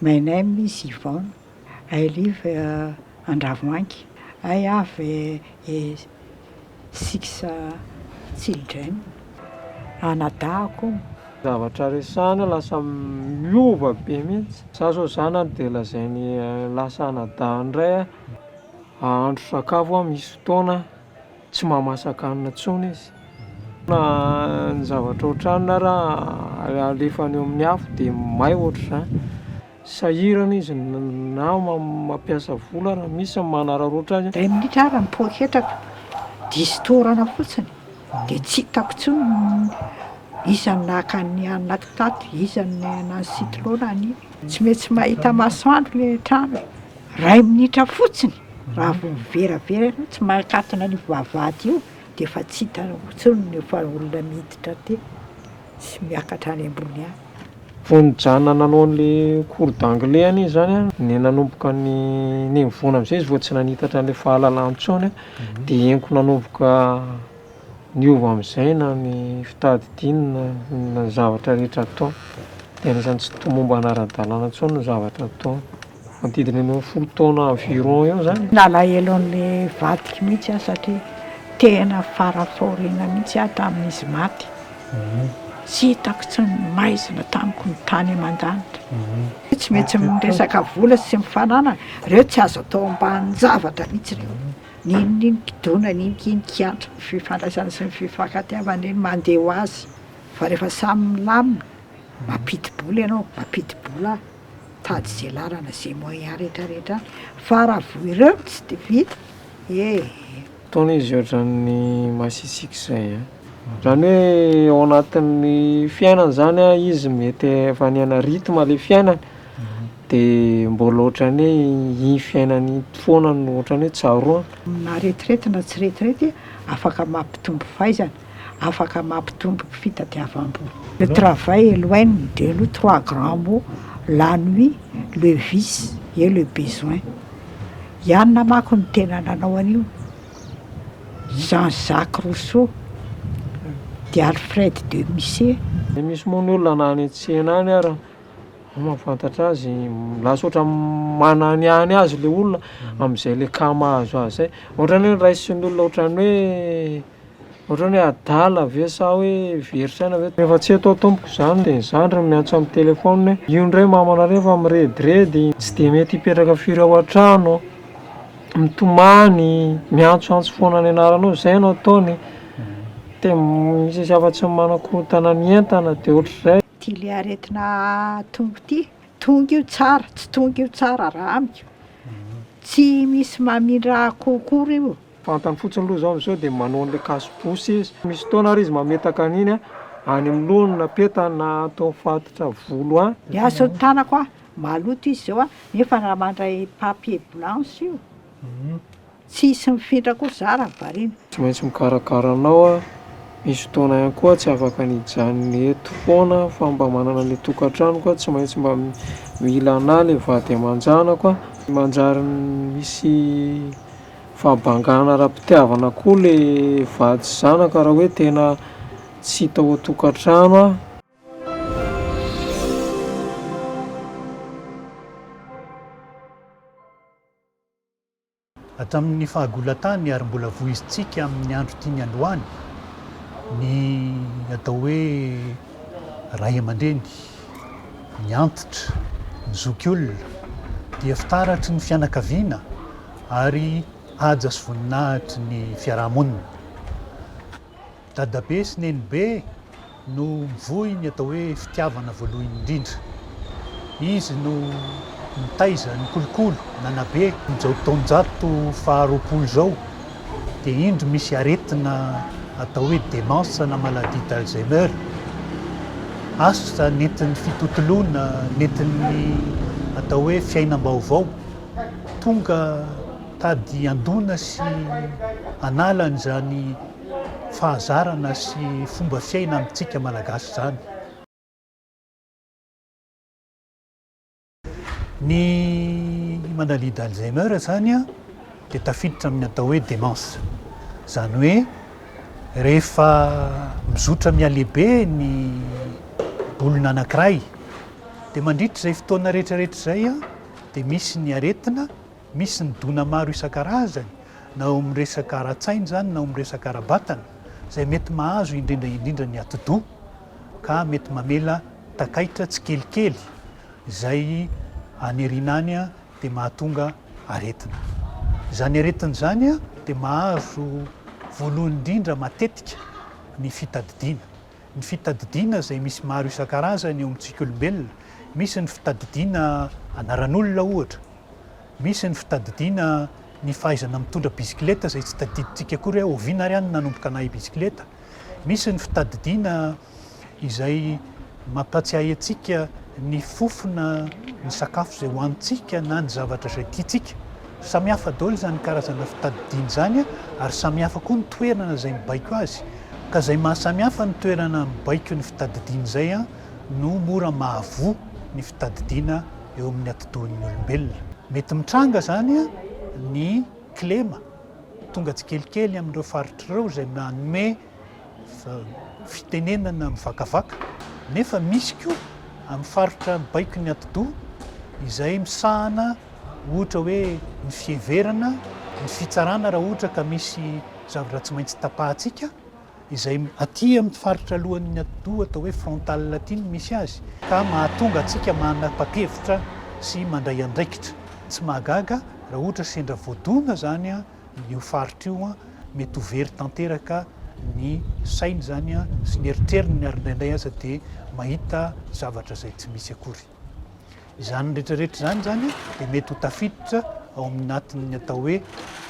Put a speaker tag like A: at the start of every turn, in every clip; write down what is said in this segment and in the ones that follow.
A: My name is Yvonne, I live Andravoahangy, I have six children, anadahako. Zavatra
B: resahina lasa miova be mihitsy, za zao zanany dia lazainy lasa anadahany indray aho, ahandro sakafo aho misy fotoana. Tsy mahamasaka hanina intsony izy. Na ny zavatra ohatran'iny ara alefany eo amin'ny afo dia may ohatr'izany. Sahirana izy na mampiasa vola raha misy ny manararaotra azy. Iray minitra ara ny poketrako
A: dia istorana fotsiny dia tsy hitako intsony ny iza no naka ny haninaky tato, iza no nanao ny sitrona an'iny. Tsy maintsy mahita masoandro ilay trano e. Iray minitra fotsiny, raha vao miveravera ianao tsy mankatona an'io vavahady io dia efa tsy hitanao intsony ny efa olona miditra aty sy miakatra any ambony any. Vao nijanona
B: nanao an'ilay cours d'anglais anie izany an, ny nanomboka ny nenivoana amin'izay izy vao tsy nanitatra an'ilay fahalalana intsony an, dia henoko nanomboka niova amin'izay na ny fitadidiany na ny zavatra rehetra ataony. Dia anisan'ny tsy tomombana ara-dalàna intsony ny zavatra ataony. Manodidina ny eo folo taona environ eo zany. Nalahelo an'le
A: vadiko mihitsy aho satria tena fara fahoriana mihitsy aho tamin'izy maty. Tsy hitako tsy ny maizina tamiko ny tany aman-danitra. Tsy maintsy miresaka vola sy mifananana, reo tsy azo atao ambanin-javatra mihitsy reo. N'inon'ino kidona, n'inon'ino kiantra, ny fifandraisana sy ny fifankatiavana reny mandeha ho azy fa rehefa samy milamina, mampidi-bola ianao, mampidi-bola aho. Tady ze lalana ze moyen rehetra rehetra any fa raha vo ireo no tsy de vita ee. Fotoana
B: izy ohatran'ny masisiky zay a. Zany hoe ao anatin'ny fiainany zany a izy mety efa niaina rythme le fiainany de mbola ohatran'ny hoe iny fiainany iny foana no ohatran'ny hoe tsaroany. Amin'aretirety
A: na tsy retirety afaka mampitombo fahaizana afaka mampitombo fitadiavam-bola. Le travail est loin de nous trois grands mots, la nuit, le vice et le besoin. I Anna manko no tena nanao an'io, i Jean Jacques Rousseau, dia Alfred de Musset. Dia misy moa ny
B: olona na any an-tsena any ary ny mahafantatra azy, lasa ohatran'ny mananiany azy ilay olona amin'izay le cas mahazo azy izay. Ohatran'ny hoe ny raisin'ny olona ohatran'ny hoe Ohatrany hoe adala ve sa hoe very saina ve. Rehefa tsy eto aho tompoko izany dia ny zandriny no miantso amin'ny telephone hoe io indray mamana ireny efa mirediredy, tsy dia mety hipetraka firy ao an-trano, mitomany, miantsoantso foana ny anaranao, izay no ataony, dia misy misy hafa tsy manakorontana ny entana dia ohatr'izay. Ity le aretina
A: tongo ity, tonga io tsara, tsy tonga io tsara raha amiko, tsy misy mamindra akoho akory io. Fantany fotsiny aloha izao
B: amin'izao dia manao an'ilay cache-bouche izy. Misy fotoana ary izy mametaka an'iny any amin'ny lohany na petany na ato amin'ny faritra volo any. Miasa ny tanako an!
A: Maloto izy izao an! Nefa raha mandray papier blanche io, tsy hisy mifindra koa za raha variana. Tsy maintsy mikarakara
B: anao aho. Misy fotoana ihany koa aho tsy afaka ny hijanona eto foana aho fa mba manana ilay tokantranoko aho, tsy maintsy mba mila anà ilay vady aman-janako an! Manjary misy. Fahambangana ara-pitiavana koa le vady sy zanaka raha hoe tena tsy hita ao an-tokantrano aho.
C: Hatramin'ny fahagolan-tany ary mbola vohizintsika amin'ny andro tiany androany ny atao hoe ray aman-dreny, ny antitra, ny zokiolona dia fitaratry ny fianakaviana ary haja sy voninahitry ny fiaraha-monina. Dadabe sy nenibe no mivoy ny atao hoe fitiavana voalohany indrindra. Izy no nitaiza ny kolokolo nanabe. Amin'izao taonjato faharoapolo izao dia indro misy aretina atao hoe démence na maladie d'Alzheimer, asa nentin'ny fitotoloana, nentin'ny atao hoe fiainam-baovao. tonga tady handona sy hanala an'izany fahazarana sy fomba fiaina amintsika Malagasy izany. Ny maladie d'Alzheimer izany dia tafiditra amin'ny atao hoe démence. Izany hoe rehefa mizotra mihalehibe ny olona anankiray dia mandritra izay fotoana rehetrarehetra izay dia misy ny aretina, misy ny dona maro isan-karazany, na ao amin'ny resaka ara-tsaina izany na ao amin'ny resaka ara-batana, izay mety mahazo indrindra indrindra ny atidoha, ka mety mamela takaitra tsikelikely, izay any aoriana any dia mahatonga aretina. Izany aretina izany dia mahazo voalohany indrindra matetika ny fitadidiana. Ny fitadidiana izay misy maro isan-karazany eo amintsika olombelona, misy ny fitadidiana anaran'olona ohatra, misy ny fitadidiana ny fahaizana mitondra bisikileta izay tsy tadidintsika akory hoe oviana ary aho no nanomboka nahay bisikileta, misy ny fitadidiana izay mampiatsiahy antsika ny fofona ny sakafo izay hohanintsika na ny zavatra izay tiantsika. Samy hafa daholo izany karazana fitadidiana izany ary samy hafa koa ny toerana izay mibaiko azy. Ka izay mahasamy hafa ny toerana mibaiko ny fitadidiana izay no mora mahavoa ny fitadidiana eo amin'ny atidohan'ny olombelona. Mety mitranga izany ny kilema tonga tsikelikely amin'ireo faritra ireo izay manome fitenenana mivakavaka nefa misy koa amin'ny faritra baiko ny atidoha izay misahana ohatra hoe ny fiheverana ny fitsarana raha ohatra ka misy zavatra tsy maintsy tapahantsika izay aty amin'ny faritra alohan'ny atidoha atao hoe frontal aty ny misy azy ka mahatonga antsika manapa-kevitra sy mandray andraikitra tsy mahagaga raha ohatra sendra voadona zany io faritra io, mety ho very tanteraka ny sainy izany sy ny eritreriny ary indraindray aza dia mahita zavatra izay tsy misy akory. Izany rehetrarehetra izany izany dia mety ho tafiditra ao amin'ny natin'ny atao hoe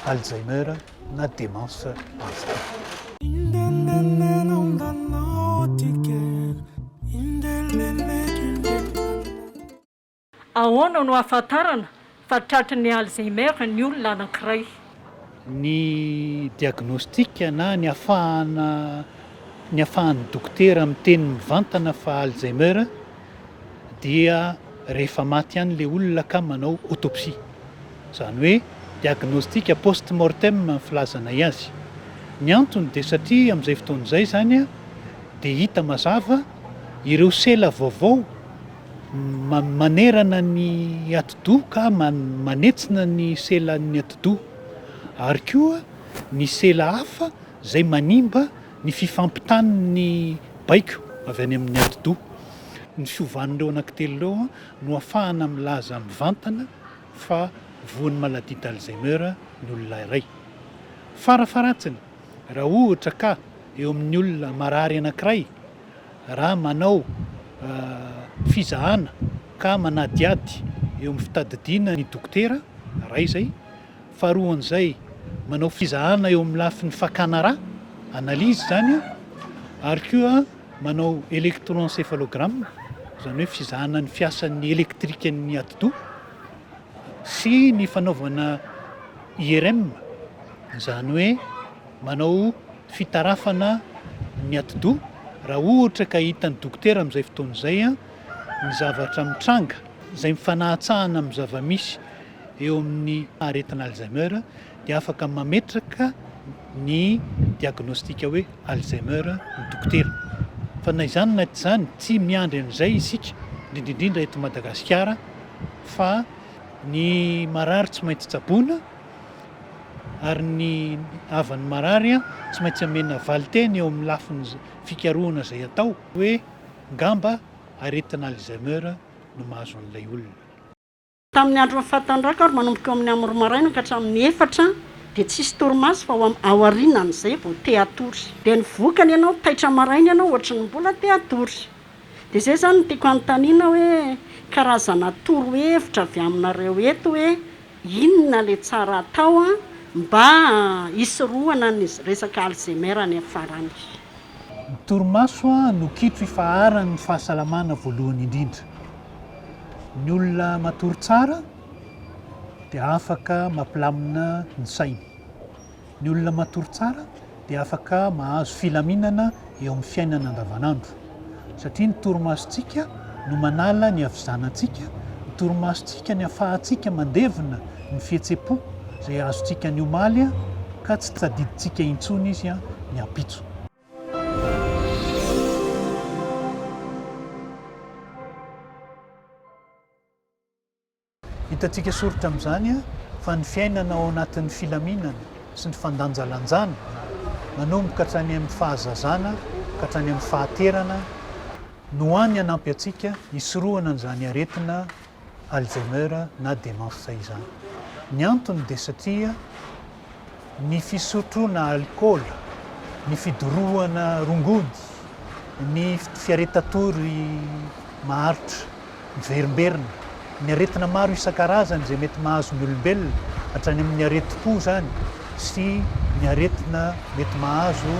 C: Alzheimer na démence Alzheimer.
D: Ahoana no ahafantarana fa tratry ny Alzheimer ny olona anankiray? Ny
C: diagnostic na ny afahana ny afahan'ny dokotera miteny mivantana fa Alzheimer dia rehefa maty ihany ilay olona ka manao autopsie. Izany hoe diagnostic post mortem ny filazanay azy. Ny antony dia satria amin'izay fotoana izay izany dia hita mazava ireo sela vaovao Manerana ny atidoha ka manetsina ny selan'ny atidoha ary koa ny sela hafa izay manimba ny fifampitan'ny baiko avy any amin'ny atidoha. Ny fiovan'ireo anankitelo ireo no afahana milaza mivantana fa voan'ny maladie d'Alzheimer ny olona iray. Farafaharatsiny, raha ohatra ka eo amin'ny olona marary anankiray, raha manao fizahana ka manadihady eo amin'ny fitadidiana ny dokotera, iray izay. Faharoan'izay, manao fizahana eo amin'ny lafiny fakana rà, analyse izany, ary koa manao electroencephalogramme, izany hoe fizahana ny fiasan'ny elektrikan'ny atidoha, sy ny fanaovana IRM, izany hoe manao. fitarafana ny atidoha raha ohatra ka hitan'ny dokotera amin'izay fotoana izay ny zavatra mitranga izay mifanahatsahana amin'ny zava-misy eo amin'ny aretina Alzheimer dia afaka mametraka ny diagnostika hoe Alzheimer ny dokotera fa na izany na tsy izany tsy miandry an'izay isika indrindra indrindra eto Madagasikara fa ny marary tsy maintsy tsaboina ary ny havan'ny marary tsy maintsy amena valin-teny eo amin'ny lafiny fikarohana izay atao hoe ngamba aretina Alzheimer no mahazo an'ilay olona. Tamin'ny
D: andron'ny fahatandroako ary manomboka eo amin'ny amin'ny roa maraina ka hatramin'ny efatra dia tsy hisy torimaso fa ho aorianan'izay vao te hatory. Dia ny vokany ianao taitra maraina ianao ohatry ny mbola te hatory. Dia izay izany no tiako hanontaniana hoe karazana torohevitra avy aminareo eto hoe Inona le tsara atao an mba hisorohana ny resaka Alzheimer any am farany. Ny
C: torimaso no kitro ifaharan ny fahasalamana voalohany indrindra. Ny olona matory tsara dia afaka mampilamina ny sainy. Ny olona matory tsara dia afaka mahazo filaminana eo amin'ny fiainana andavanandro. Satria ny torimasontsika no manala ny havizanantsika, ny torimasontsika ny afahantsika mandevina ny fihetsem-po izay azontsika ny omaly ka tsy tsadidintsika intsony izy ny ampitso. Hitantsika soritra amin'izany fa ny fiainana ao anatin'ny filaminana sy ny fandanjalanjana, nanomboka hatrany amin'ny fahazazana ka hatrany amin'ny fahaterana, no hany hanampy antsika hisorohana an'izany aretina Alzheimer na demence izany. Ny antony dia satria. ny fisotroana alikaola, ny fidorohana rongony, ny fiareta-tory maharitra, miverimberina, ny aretina maro isan-karazany izay mety mahazo ny olombelona, hatrany amin'ny aretim-po izany sy ny aretina mety mahazo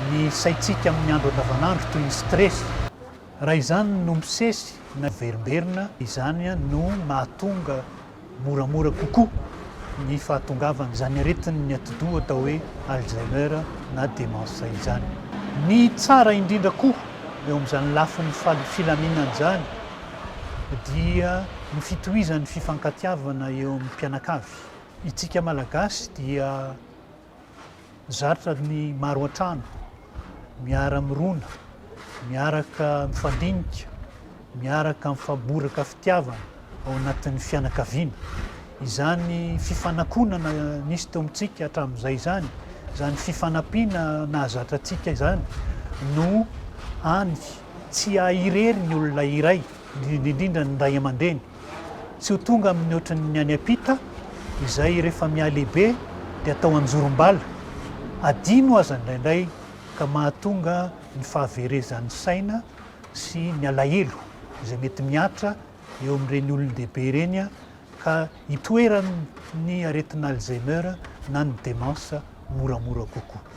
C: ny saintsika amin'ny andro andavanandro toy ny stress. Raha izany no misesy na miverimberina, izany no mahatonga moramora kokoa ny fahatongavan'izany aretin'ny atidoha atao hoe Alzheimer na démence izany. Ny tsara indrindra koa eo amin'izany lafiny filaminana izany dia ny fitohizan'ny fifankatiavana eo amin'ny mpianakavy. Itsika Malagasy dia. Zarotra ny maro an-trano, miara-mirona, miaraka mifandinika, miaraka mifamboraka fitiavana ao anatin'ny fianakaviana. Izany fifanakonana nisy teo amintsika hatramin'izay izany, izany fifanampiana nahazatra antsika izany no hany tsy ahy irery ny olona iray, indrindra indrindra ny ray aman-dreny. tsy ho tonga amin'ny ohatran'ny any ampita izay rehefa mihalehibe dia atao anjorom-bala, adino aza indraindray ka mahatonga ny fahaverezan'ny saina sy ny alahelo izay mety mihatra eo amin'ireny olon-dehibe ireny ka itoeran'ny aretin'Alzheimer na ny demence moramora kokoa.